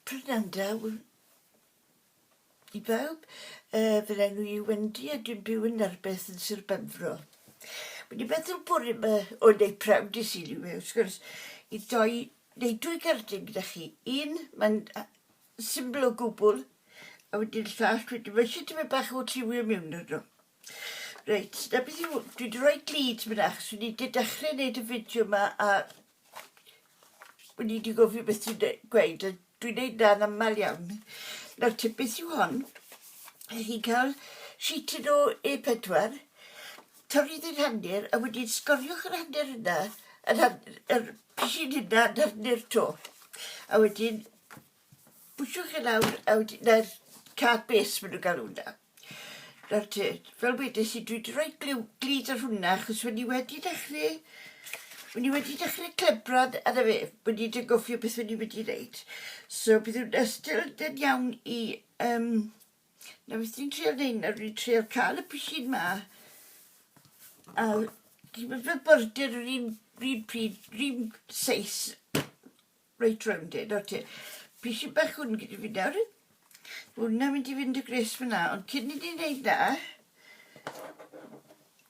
Prynawn da i bawb. Yy fy enw i yw Wendy a dwi'n byw yn Narbeth yn Sir Benfro. Wedi meddwl bore 'ma o neud prawf i Sul yw e wrth gwrs i doi neu dwy gerdyn gyda chi. Un mae'n a- syml o gwbwl a wedyn llall wedyn ma' isie tipyn bach o lliwio miwn arno. Reit 'na beth yw dwi 'di roi glud myn 'na achos wi 'di dechre neud y fideo 'ma a Wn i 'di gofio beth ti'n de- gweud a dwi'n neud 'na yn amal iawn. Nawr te beth yw hon? Ych chi'n ca'l sheeted o A pedwar, torri ddi'n hanner a wedyn sgoriwch yr hanner yna yn han- yr pishyn hynna yn hanner 'to. A wedyn Pwsiwch chi lawr a wedyn 'na'r card base ma' nhw'n galw hwnna. Nawr te, fel wedes i dwi 'di rhoi gliw glud ar hwnna achos wen i wedi dechre wen i wedi dechre clebrad a 'na fe, wen i 'di anghofio beth wen i wedi neud. So bydd hwnna still yn dyn iawn i yym na beth ni'n trial neud nawr ni'n trial ca'l y pishyn 'ma a dim ond fel border yr un r'un pryd r'un seis Reit rownd e, nawr te. Pishyn bach hwn gyda fi nawr. Hwna mynd i fynd y gres fyna, ond cyn i ni wneud na,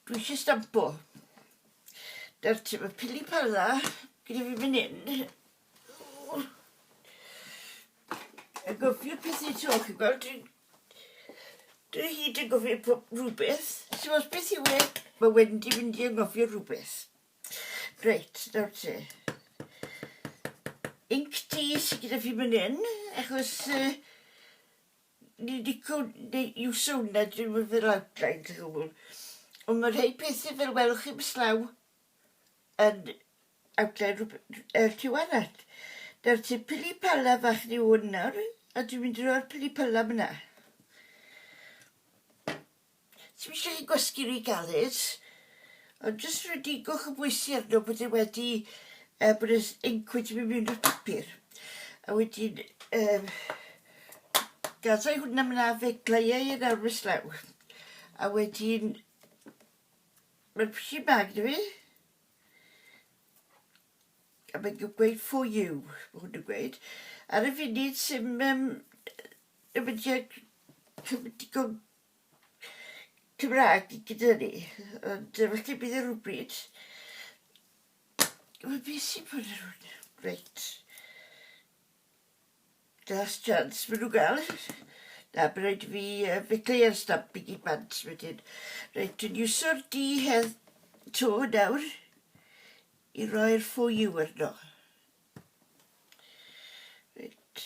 dwi eisiau stampo. Nawr te, mae pili pala gyda fi fan hyn. A gofio pethau to, chi'n gweld, dwi'n... Dwi hyd yn gofio rhywbeth. So, os beth yw e, mae Wendy mynd i angofio rhywbeth. Reit, nawr te. Inc T sydd gyda fi fan hyn, achos uh, ni wedi gwneud iwso hwnna dyn nhw fel outline to gwbl. Ond mae rhai pethau fel welwch chi mislaw yn outline yr tu arall. Nawr te, pili pala fach ni hwn nawr, a dwi'n mynd i roi'r pili pala fyna. Dwi'm isio chi gwasgu ry galed, ond jyst rodigwch y bwysi arno bod e wedi yy bod yr inc wedi mynd mewn i'r papur. A wedyn yym gadau hwnna myn 'na fe gleuai e nawr mis law. A wedyn ma'r pishyn bag da fi. A mae'n gweud for you ma' hwn yn gweud. Ar y funud sim yym yy ddim yn digon Cymraeg gyda ni, ond yy falle bydd e rywbryd. Wel, be sy'n bod yn hwn? Reit. Last chance maen nhw'n gael. Na, bydd rhaid i fi uh, fecleu ar stamp i gyd bant wedyn. Reit, dwi'n iwsio'r di hedd to nawr i roi'r ffo yw arno. Reit.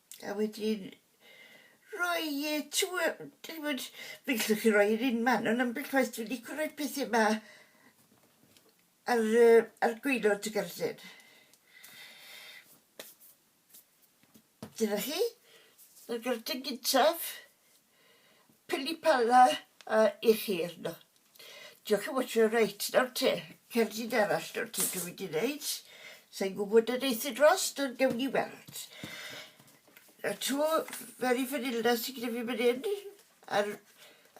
A wedyn rhoi e trw yy dych ch'mod fe gellwch chi roi e'r un man on' ambell waith dwi lico roi pethe 'ma ar yy ar gwaelod y garllen. Dyna chi. Yr garllen gyntaf. Pili Pala yy i chi arno. Diolch yn fawr ti reit nawr te, cerdyn arall nawr te dwi wedi neud. Sa'n gwybod y neith i drost ond gewn ni weld. A tu mewn i fanylda sy gyda fi fan hyn a'r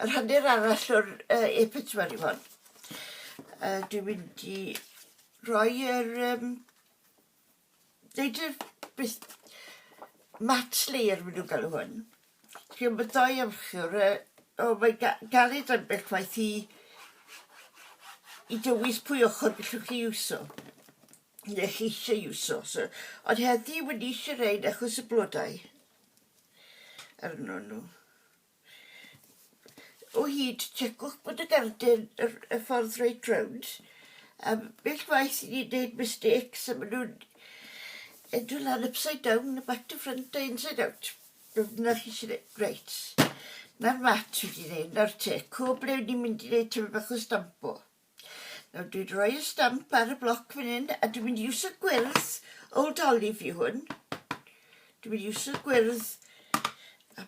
yr hanner arall o'r uh, e pedwar i hon. Uh, dwi'n mynd i roi yr um, Nid yw'r bus- match layer maen nhw'n galw hwn. Chi'n bod doi ymchwr, yy, o mae'n ga- galed ambell waith i i dywys pwy ochr gallwch chi iwso, neu chi eisiau iwso. So, ond heddi wedi eisiau rhain achos y blodau arnyn nhw. o hyd, checwch bod y garden, yr, y ffordd reit rownd. A bell waith i ni wneud mistakes a maen nhw'n edrych lan upside down a back to front a inside out. Dyna chi sy'n ei... Reit. Na'r mat fi wedi wneud, na'r te. Co ble ni'n mynd i wneud tyfu bach o stampo. Nawr dwi'n rhoi y stamp ar y bloc fan hyn a dwi'n mynd i iwsio gwyrdd Old Olive i hwn. Dwi'n mynd i iwsio gwyrdd a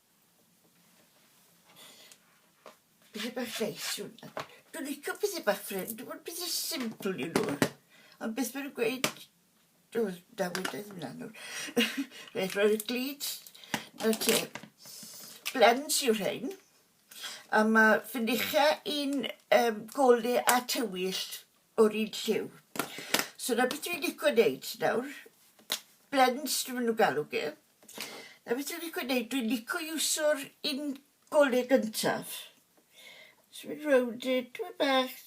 Pethau bach neis yw hwnna. Dwi'n licio pethau bach ffrind, dwi'n bod pethau simple i nhw. Ond beth mae'n gweud, dwi'n dawyd oedd hwnna nhw. Rhaid roi'r glid, na ti. Blends yw rhain. A mae ffinicha i'n um, gole a tywyll o'r un lliw. So na beth dwi'n licio wneud nawr. Blends dwi'n mynd nhw galw gyda. Na beth dwi'n licio neud, dwi'n licio iwsio'r un gole gyntaf. Jyst mynd rownd e tipyn bach.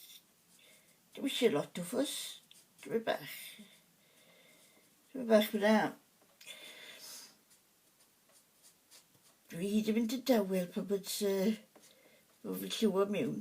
Dim isie lot o ffws, tipyn bach. Tipyn bach fel 'na. Dwi hyd yn mynd yn dawel pan bod yy bo' fi'n lliwio miwn.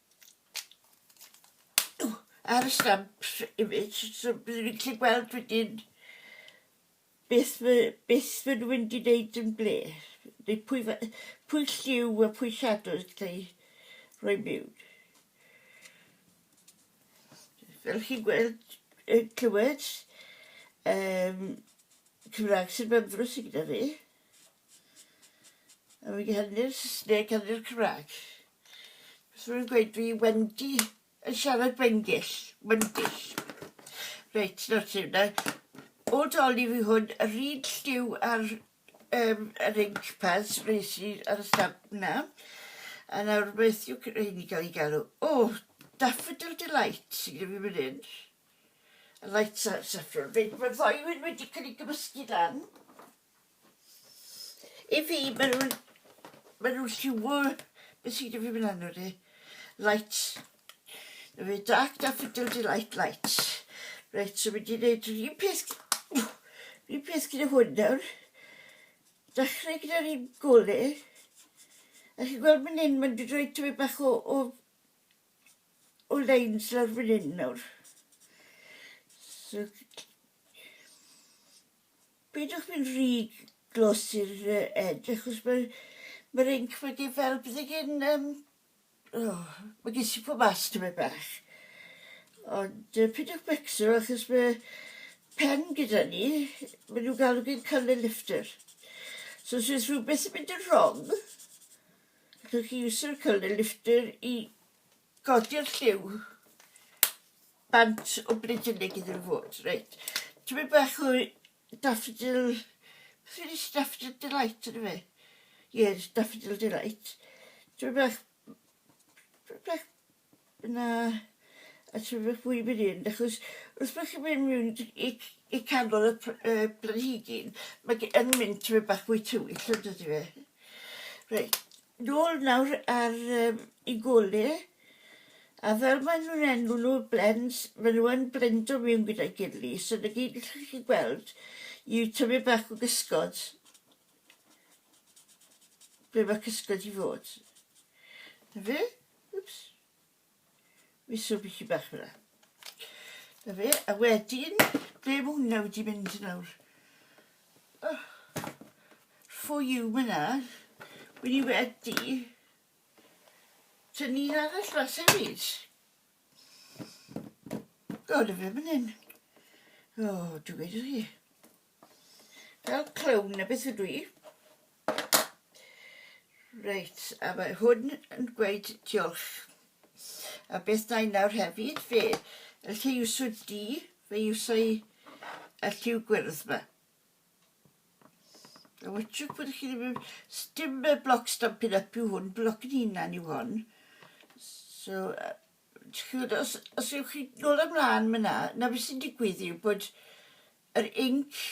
ar y stamp image so byddwn i'n gallu gweld wedyn beth fy, beth fy nhw wedi wneud yn ble neu pwy, fa- pwy lliw a pwy shadows yn cael ei rhoi mewn fel chi'n gweld yn clywed um, Cymraeg sy'n fy ymddrws i gyda fi A wedi hynny'r Saesneg a hynny'r Cymraeg. Beth rwy'n gweud, fi Wendy yn siarad Wengill, Wengill. Reit, nawr ti hwnna. O doli fi hwn, yr un lliw ar um, yr ink pads nes i ar y stamp na. A nawr beth yw rheini cael ei galw? O, oh, Daffodil Delight sy'n gyda fi mynd hyn. A light saffron. Reit, mae'r ddoi wedi cael ei gymysgu lan. I fi, maen nhw'n... maen nhw'n lliwio... beth sy'n gyda fi fan hyn nawr de? Lights. Na fe, dark daffodil delight lights. Reit, so mynd i wneud yr un peth... yr un peth gyda hwn nawr. Dechrau gyda'r un gole. A chi'n gweld fan hyn, mae'n dod roi tyfu bach o, o, o leins lawr fan hyn nawr. So, Peidiwch mynd rhy glos i'r edge achos mae ma'r inc wedi fel bydde gen yym o ma' gen sipo mas tymed bach. Ond yy peidiwch becso achos mae pen gyda ni ma' nhw'n galw fe'n colour lifter. So os oes rhywbeth yn mynd yn wrong allwch chi iwsio'r colour lifter i godi'r lliw. Bant o Brydeinig iddyn nhw fod, reit. Tymed bach o daffodil, beth yw daffodil delight yn fe? Yes, daffodil delight. Tymed bach, tymed bach, na, a tymed bach fwy mynd hyn, achos wrth bod chi'n mynd mewn i, i canol y pr- uh, planhigyn, mae yn mynd tymed bach fwy tywyll yn dydy fe. Reit, nôl nawr ar um, i gole, a fel maen nhw'n enw nhw, blends, maen nhw yn blendo mewn gyda'i gili, so na gyd allwch chi gweld yw tyfu bach o gysgod, ble mae cysgod i fod. Na fe? Wps. Miso bisi bach fel yna. Da fe, a wedyn, ble mae hwnna wedi mynd nawr? Oh. For you mae yna. Wedi wedi. Tynnu un arall fas hefyd. O, da fe mynd hyn. O, dwi'n gweud chi. Fel clown na beth ydw i. Reit, a mae hwn yn gweud diolch. A beth da i nawr hefyd, fe, y lle iwsio di, fe iwsio i y lliw gwyrdd yma. A wytrwch bod chi ddim yn... Dim y bloc stampin up yw hwn, bloc yn hunan yw hwn. So, uh, os, os ywch chi nôl ymlaen myna, na beth sy'n digwydd yw bod yr inc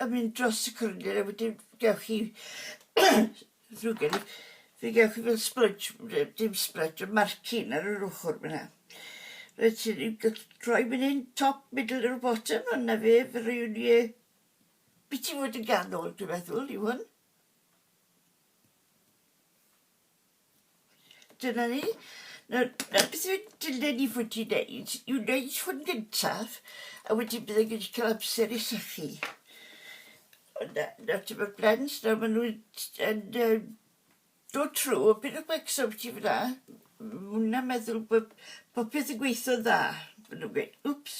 yn mynd dros y cylinder a wedyn gewch chi ddrwg gen i fe gewch chi fel splwdge yy dim splwdge y marcin ar yr ochr fan 'na reit ti ni'n gall- rhoi fan 'yn top middle or bottom a 'na fe fe rywun ie byti fod yn ganol dwi'n meddwl yw hwn. Dyna ni. Nawr, nawr beth yw'r dylen ni fod i'n neud yw neud hwn gyntaf, a wedyn byddai'n gallu cael amser i sychu. Ond na, na ti bod blens, nawr maen nhw'n yn, yn, dod trwy, o beth o gwecs o beth i fyna. Mwna meddwl bod popeth yn gweithio dda. Maen nhw'n gweud, wps,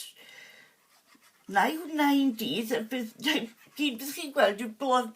na i hwnna i'n dydd, a bydd, gyd beth chi'n gweld yw blod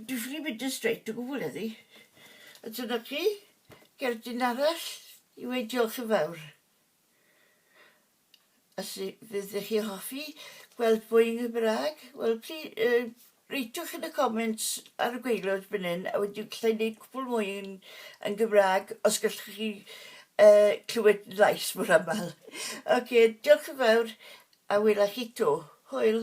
Dwi ffili mynd yn straight o gwbwl heddi. A dyna chi, gerdyn arall i weud diolch yn fawr. A sy fydd chi hoffi gweld mwy yn Gymraeg, wel pli, uh, reitiwch yn y comments ar y gweilod fan hyn, a wedi gallai wneud cwpl mwy yn, yn Gymraeg, os gallwch chi uh, clywed llais mor aml. Oce, okay, diolch yn fawr, a wela chi to. Hwyl!